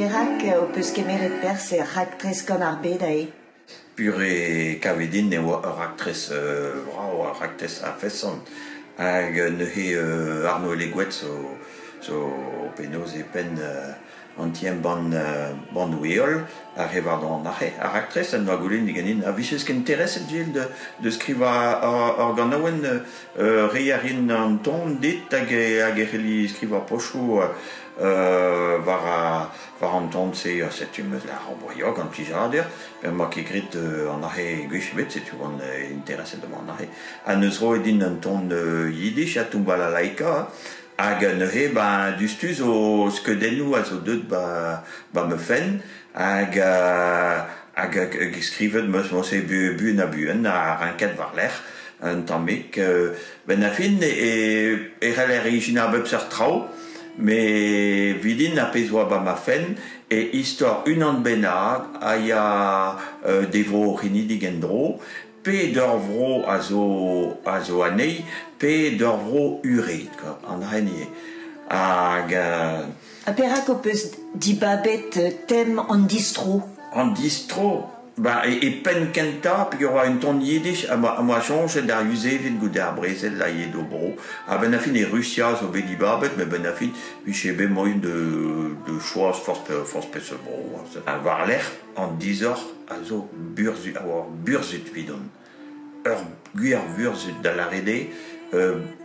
Perak ho peus kemeret perzh er raktres gant ar bed ae ? Pure kavet din e oa ur raktres vrav, ur raktres a-feson. Hag neuze Arno Legoet zo penaos e penn an ti-embann Bannoù-heol a re varnon an arc'he. Ar raktres en doa goulennet ganin a vijes intereset Gilles de, de skrivañ ur ganaouenn reiñ a rin an ton dit hag e, hag e c'helli skrivañ pochoù war, war an ton-se. Setu 'm eus ar oborio gant plijadur. Emañ ket graet an arc'he gwech ebet, setu on intereset da an arc'he. Ha 'neus roet din un ton yiddish ha toumbala laika. Hag neuze ba duztu zo skeudennoù a zo deuet ba ba ma fenn hag hag hag skrivet meus mosse buan ha buan ha renket war-lerc'h un tammig benn ar fin e c'heller ijinañ a bep seurt traoù met vidin ar pezh oa ba ma fenn e istor unan bennak a ya d'e vro c'henidik en-dro ped ur vro a zo a zo anezhi ped ur vro ured an hini hag ha perak ho peus dibabet tem an distro an distro ba e, e penn kentañ peogwir oa un ton yiddish ha ma, ma soñjet ar Yuzeved goude ar brezel a yee d'o bro ha benn a fin e Rusia zo bet dibabet met benn a fin vije bet moaien de, de choaz forzh forzh peseurt bro hein. ha war-lerc'h an disoc'h a zo burzhud, a oa ur burzhud evidon. Ur gwir vurzhud da lâret eo.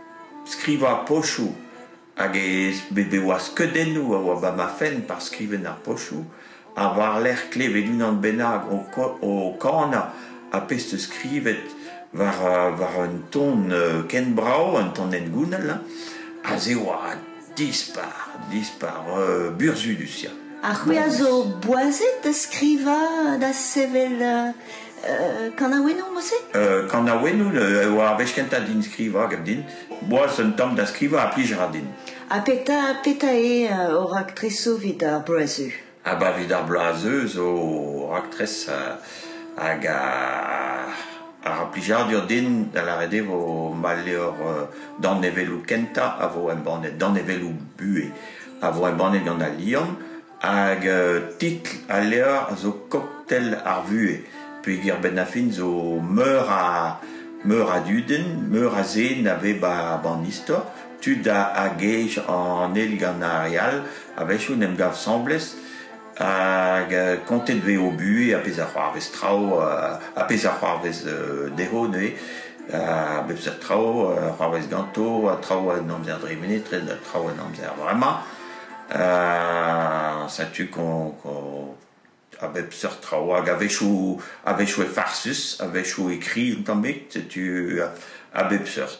skrivañ pochoù hag e oa skeudennoù a oa 'ba ma fenn par skrivenn ar pochoù ha war-lerc'h klevet unan bennak o kanañ apez 'teus skrivet war war un ton ken brav, un ton hengounel, ha se a oa Dispar, dispar, euh, burzhudus ya. Ha c'hwi a zo boazet da skrivañ, da sevel euh, euh, kanaouennoù, Mose euh, Kanaouennoù euh, war ar wech kentañ din skrivañ gant din. Boaz un tamm da skrivañ a plij ra din. Ha petra, petra eo uh, hor raktresoù evit ar bloazioù Abaoe d'ar bloaz zeu zo raktres hag ar plijadur din da lâret eo vo ma levr danevelloù kentañ a vo embannet danevelloù buhez a vo embannet gant Al Liamm hag titl al levr zo Koktel ar vuhez peogwir benn ar fin zo meur a meur a dudenn meur a zen a vez 'ba an istor tud a gej an eil gant ar re all a-wechoù en em gav 'sañbles hag kontet e vez o buhez ha pezh a c'hoarvez traoù ha pezh a c'hoarvez dezho neuze ha bep seurt traoù a c'hoarvez ganto ha traoù en amzer dremenet ret ha traoù en amzer vremañ setu qu'on qu'on a bep seurt traoù hag a-wechoù a-wechoù eo farsus a-wechoù e kri un tammig setu a bep seurt.